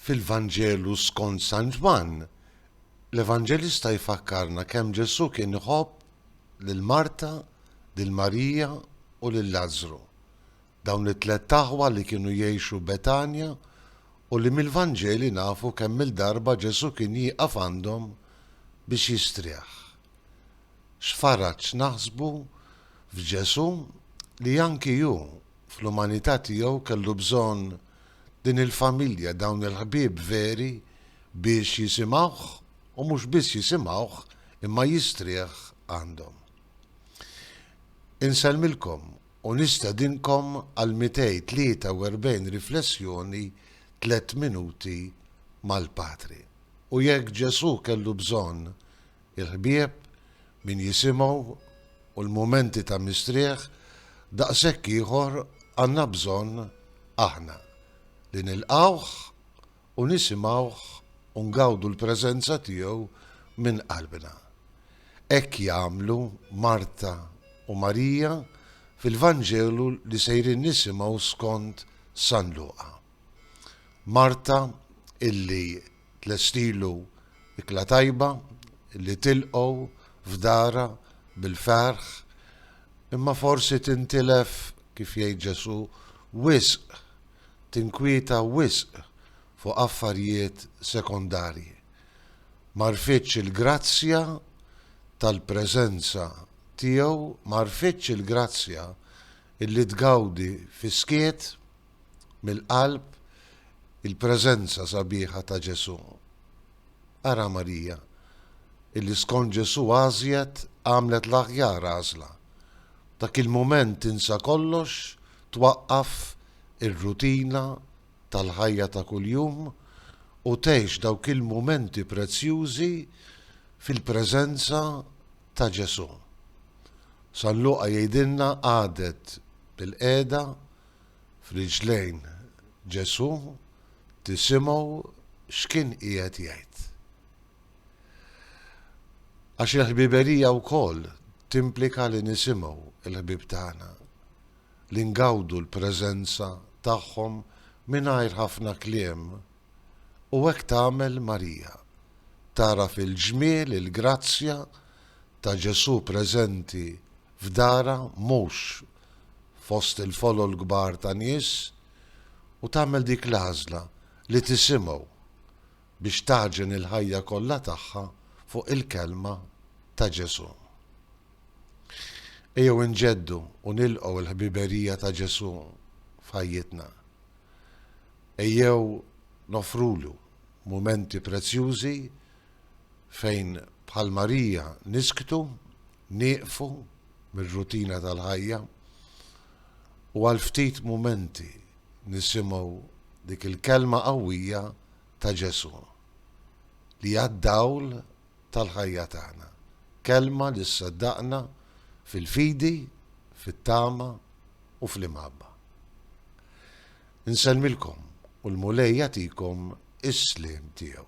Fil-Vanġelu skont San Ġwann, l-Evanġelista jfakkarna kemm Ġesù kien iħobb lil Marta, lil Marija, u lil Lażru, dawn it-tlett aħwa li kienu jgħixu Betanja u li mill-Vanġeli nafu kemm-il darba Ġesù kien jieqaf għandhom biex jistrieħ. X'faraġ naħsbu f'Ġesù li anki hu fl-umanità tiegħu kellu bżonn din il-familja, dawn il-ħbieb veri biex jisimgħuh u mhux biss jisimgħuh imma jistrieħ għandhom. Insellmilkom u nistedinkom għall-243 riflessjoni Tliet Minuti mal-Patri. U jekk Ġesù kellu bżonn Il-ħbieb, min jisimgħu, u l-mumenti ta' mistrieħ daqshekk ieħor għandna bżonn aħna, li nilqgħuh u nisimgħuh u ngawdu l-preżenza tiegħu minn qalbna. Hekk jagħmlu Marta u Marija fil-Vanġelu li sejrin nisimgħu skont San Luqa. Marta illi. Tlestilu ikla tajba li tilqgħu f'darha bil-ferħ, imma forsi tintilef, kif jgħid Ġesù, wisq, tinkwieta wisq fuq affarjiet sekondarji. M'għarfitx il-grazzja tal-preżenza tiegħu, m'għarfitx il-grazzja illi tgawdi fis-skiet. mill-qalb il-preżenza sabiħa ta' Ġesù. Ara Marija, illi skont Ġesù għażjet għamlet l-aħjar għażla. Dak il-mument tinsa kollox, twaqqaf ir-rutina tal-ħajja ta' kuljum u tgħix dawk il-mumenti prezzjużi fil-preżenza ta' Ġesù. San Luqa jgħidilna qagħdet bil-qiegħda f'riġlejn Ġesù tisimgħu x'kien qiegħed jgħid. Għax il-ħbiberija wkoll timplika li nisimgħu l-ħbieb tagħna, li ngawdu l-preżenza tagħhom mingħajr ħafna kliem U hekk tagħmel Marija. Tagħraf il-ġmiel, il-grazzja, ta' Ġesù preżenti f'darha, mhux fost il-folol kbar ta' nies, u tagħmel dik l-għażla li tisimgħu biex tagħġen il-ħajja kollha tagħha fuq il-kelma ta' Ġesù. Ejjew inġeddu u nilqgħu l-ħbiberija ta' Ġesù f'ħajjitna. Ejjew noffrulu mumenti prezzjużi fejn bħal Marija nisktu, nieqfu mir-rutina tal-ħajja, u għal ftit mumenti nisimgħu dik il-kelma qawwija ta' Ġesù, li għad-dawl tal-ħajja tagħna, kelma li ssaddaqna fil-fidi, fit-tama u fl-imħabba. Insellmilkom u l-Mulej jagħtikom is-sliem tiegħu.